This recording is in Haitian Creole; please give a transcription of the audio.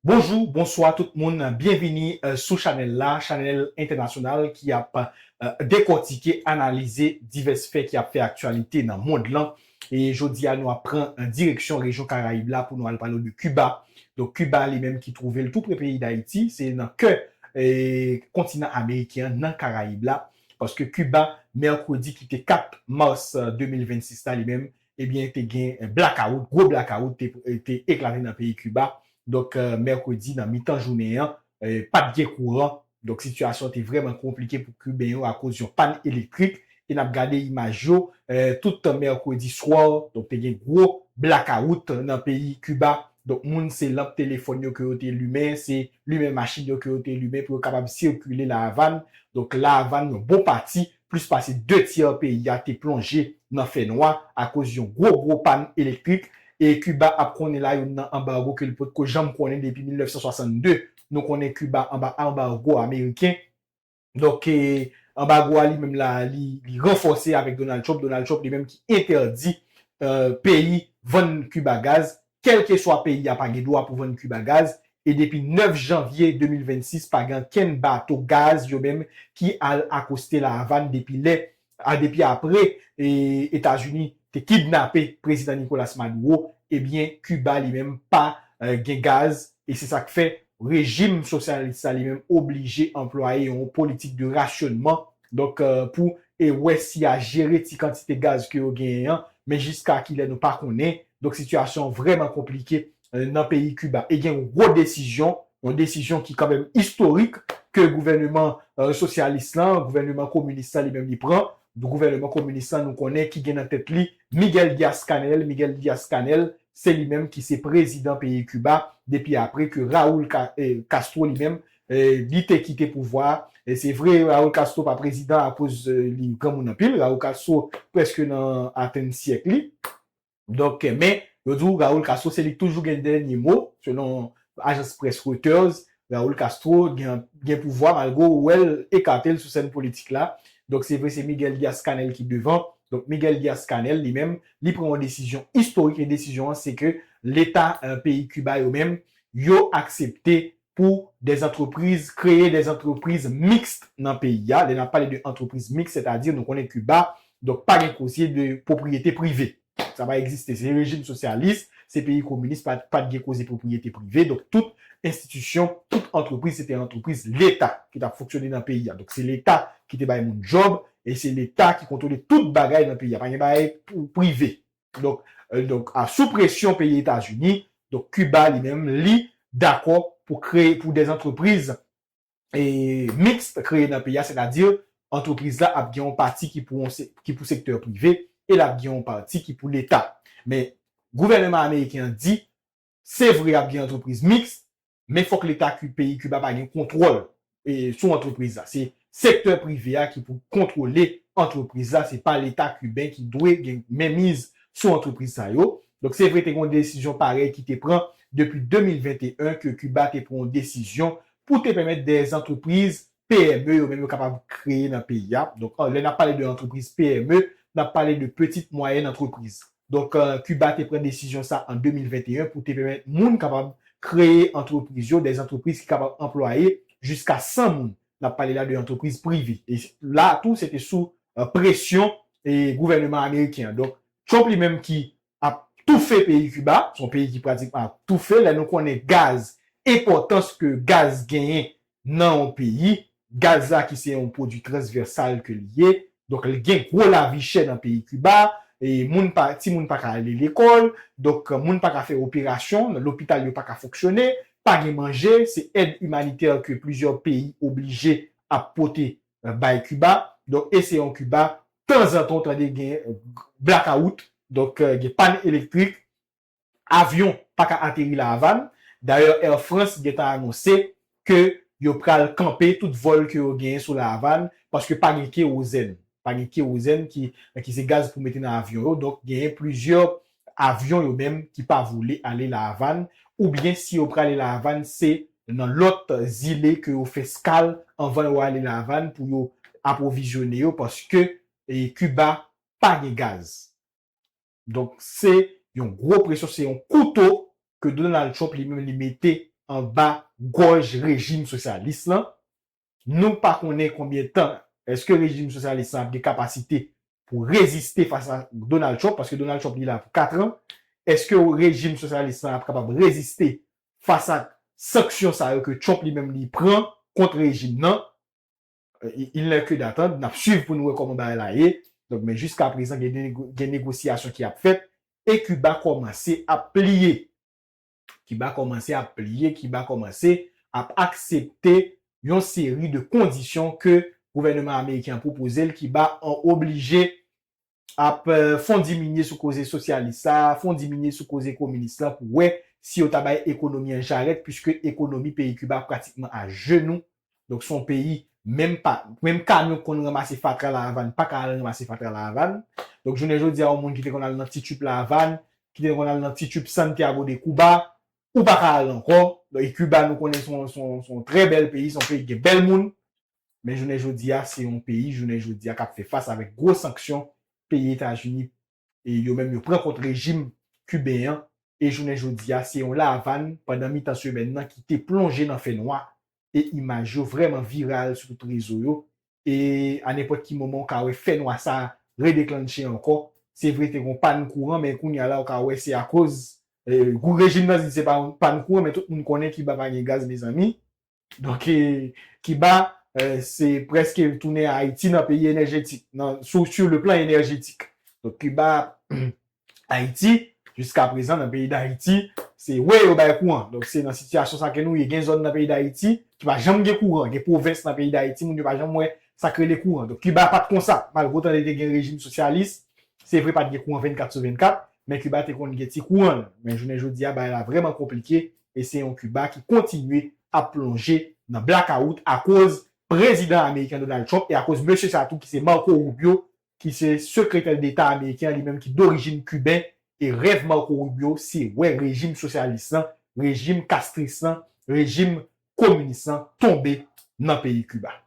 Bonjou, bonswa tout moun, byenvini sou chanèl la, chanèl entènasyonal ki ap dekòtike, analize divès fè ki ap fè aktyalite nan mond lan. E jodi a nou ap pran direksyon rejyon Karayib la pou nou al pale w de Kiba. Donk Kiba li menm ki twouve l tou pre peyi Dayiti, se nan kè kontinan ameriken an, nan Karayib la, paske Kiba mèkredi ki te 4 mas 2026 la li menm Ebyen te gen blakawout, gwo blakawout te eklate nan peyi Kiba, donk mèkredi nan mitan jounen an pa t gen kouran, donk sitiyasyon te vrèman konplike pou kiben yo akoz yon pàn elektrik e n ap gade imaj yo tout tan mèkredi swa, donk te gen gwo blakawout nan peyi Kiba, donk moun se lanp telefòn yo ke yo te limen, se limen machin yo ke yo te limen pou yo kapab sikile La Avàn, donk La Avàn yon bon pati Plis pase 2 tyè peyi a te plonje nan fè nwa akoz yon gwo gwo pàn elektrik, e Kiba ap konnen la youn nan anbargo ke li potko janm konnen depi 1962. Nou konnen Kiba anba anbargo ameriken, donk anbargo a li menm la li ranfòse avèk Donald Trump, Donald Trump li menm ki entèdi peyi vann Kiba gaz, Kèlkeswa peyi a pa gen dwa pou vann Kiba gaz e depi 9 janvye 2026 pa gen ankenn bato gaz yo menm ki al akoste La Avàn depi lè a depi apre Etazini te kidnape Prezidan Nicolas Maduro ebyen Kiba li menm pa gen gaz e se sa k fè rejim sosyalis la li menm oblije anplwaye yon politik de rasyonnman Donk pou e wè si ya jere ti kantite gaz ke yo genyen an, men jiska kilè nou pa konnen. Donk sitiyasyon an vrèman konplike nan peyi Kiba. E gen yon gwo desizyon, yon desizyon ki kanmenm istorik ke gouvèneman sosyalis lan, gouvèneman kominis lan li menm li pran. Gouvèneman kominis lan nou konnen ki gen nan tèt li Miguel Diaz-Canel, Miguel Diaz-Canel se li menm ki se prezidan peyi Kiba depi apre ke Raul Castro li menm Li te kite pouvwa a. Se vre Raul Castro pa prezidan akoz li granmoun anpil. Raul Castro preske nan atenn syèk li. Donk men yo di w Raul Castro se li ki toujou gen dènye mo selon ajans près Reuters. Raul Castro gen pouvwa malgre w wè l ekate l sou sèn politik la. Donk se vre se Miguel Diaz-Canel ki devan. Donk Miguel Diaz-Canel li menm li pran yon desizyon istorik e desizyon an se ke leta peyi Kiba yo menm yo aksepte pou des entreprises, kreye des entreprises mixtes nan peyi a, lè n ap pale de entreprises mixtes sètadi nou konnen Kiba, donk pa gen koze de pwopriyete prive. Sa pa egziste, se rejim sosyalis, se peyi kominis pa pa t gen koze pwopriyete prive, donk tout enstitisyon, tout antrepriz se te antrepriz leta ki t ap fonksyone nan peyi a, donk se leta ki te bay moun djòb e se leta ki kontwole tout bagay nan peyi a, pa gen bagay prive. Donk, donk, a sou presyon peyi Etazini, donk Kiba li menm li dakò pou kreye, pou dè antrepriz e mixte kreye nan peyi a, sètadi antrepriz la ap gen yon pati ki pou yon se, ki pou sektè prive e l ap gen yon pati ki pou leta. Men gouvèneman ameriken an di, se vre ap gen antrepriz mixte, Men fòk leta Ku peyi Kuba pa gen kontwòl e sou antrepriz la. Se sektè prive a ki pou kontwole antrepriz la, se pa leta kuben ki dwe gen menmiz sou antrepriz sa yo. Donk se vre te gen yon desizyon parèy ki te pran depi 2021 ke Kuba te pran yon desizyon pou te pèmèt dè antrepriz PME yo menm yo kapab kreye nan peyi a. Donk lè n ap pale de antrepriz PME, n ap pale de Petite Moyenne Entreprise. Donk Kiba te pran desizyon sa an 2021 pou te pèmèt moun kapab kreye antrepriz yo, dè antrepriz ki kapab anplwaye jiska 100 moun. N ap pale la de antrepriz prive. E la tou se te sou presyon gouvèneman ameriken an. Donk Trump li menm ki ap toufe peyi Kiba, son peyi ki pratikman ap toufe lè nou konnen gaz, enpòtans ke gaz genyen nan yon peyi, gaz la ki se yon pwodwi transvèsal ke li ye, donk li gen gwo lavi chè nan peyi Kiba, e moun pa, ti moun pa ka ale lekòl, donk moun pa ka fè operasyon, lopital yo pa ka fonksyone, pa gen manje, se èd imanitè ke plizyè peyi oblije ap pote bay Kiba. Donk e se yon Kiba tanzantan ou tande gen blakawout, donk gen pàn elektrik, avyon pa ka ateri La Avàn. Dayè Air France gentan anonse ke yo pral kanpe tout vòl ke yo genyen sou La Avàn paske pa gen kewozèn. Pa gen kewozèn ki se gaz pou mete nan avyon yo. Donk genyen plizyè Avyon yo menm ki pa vole ale La Avàn ou byen si yo prale La Avàn se nan lòt zile ke yo fè skal anvan yo ale La Avàn pou yo apwovizyone yo paske Kiba pa gen gaz. Donk se yon gwo presyon, se yon kouto ke Donald Trump li menm li mete anba gòj rejim sosyalis lan Nou pa konnen konbyen tan eske rejim sosyalis lan ap gen kapasite pou reziste fas a Donald Trump, paske Donald Trump li la pou 4 an, eske rejim sosyalis lan ap kapab reziste fas ak sanksyon sa yo ke Trump li menm li pran kont rejim nan, il n'est que d'attendre, nap swiv pou nou wè kòman bagay la ye, donk men jiska prezan gen negosyasyon ki ap fèt e Kiba kòmanse ap pliye. ki ba kòmanse ap pliye, ki ba kòmanse ap aksepte yon seri de kondisyon ke gouvèneman ameriken an pwopoze l, ki ba an oblije ap fon diminye sou koze sosyalis la, fon diminye sou koze kominis la pou wè si yo ta bay ekonomi an jarèt, puiske ekonomi peyi Kiba pratikman a jenou Donk son peyi menm pa menm kamyon ki konn ranmase fatra la Havane pa ka al ranmase fatra la Havane. Donk jounen jodi a yon moun ki te konn al nan ti trip la Havane, ki te konn al nan ti trip Santiago de Cuba, ou pa ka al ankò. Donk e Cuba nou konnen son son son trè bèl peyi, son peyi ki gen bèl moun. Men jounen jodi a se yon peyi jounen jodi a k ap fè fas avèk gwo sanksyon peyi Etazini e yo menm yo pran kont rejim kiben an e jounen jodi a se yon La Avàn pandan mitan semèn nan ki te plonje nan fè nwa e imaj yo vrèman viral sou tout rezo yo e a nenpòt ki moman ou ka wè fè nwa sa redeklannche ankò. Se vre te gon pàn kouran men kounya la ou ka wè se akoz gou rejim nan di se pa yon pàn kouran men tout moun konnen Kiba pa gen gaz mezanmi. Donk Kiba se preske tounen Ayiti nan peyi enèjetik, sou le plan enèjetik. Donk Kiba, Ayiti, jiska prezan nan peyi Dayiti, se wè yo bay kouran. Donk se nan sitiyasyon sa ke nou ye. Gen zòn nan peyi Dayiti ki pa janm gen kouran. Gen pwovens nan peyi Dayiti moun yo pa janm wè sa k rele kouran. Donk Kiba pa t kon sa. Malgre otan li te gen rejim sosyalis, se vre pa t gen kouran 24 sou 24, men Kiba te konn gen ti kouran l. Men jounen jodi a bagay la vrèman konplike e se yon Kiba ki kontinye ap plonje nan blakawout akoz Prezidan ameriken Donald Trump e akoz mesye sa tou ki se Marco Rubio ki se Sekretè Deta ameriken an li menm ki dorijin Kiben e rèv Marco Rubio se wè rejim sosyalis lan, rejim kastris lan, rejim kominis lan tonbe nan peyi Kiba.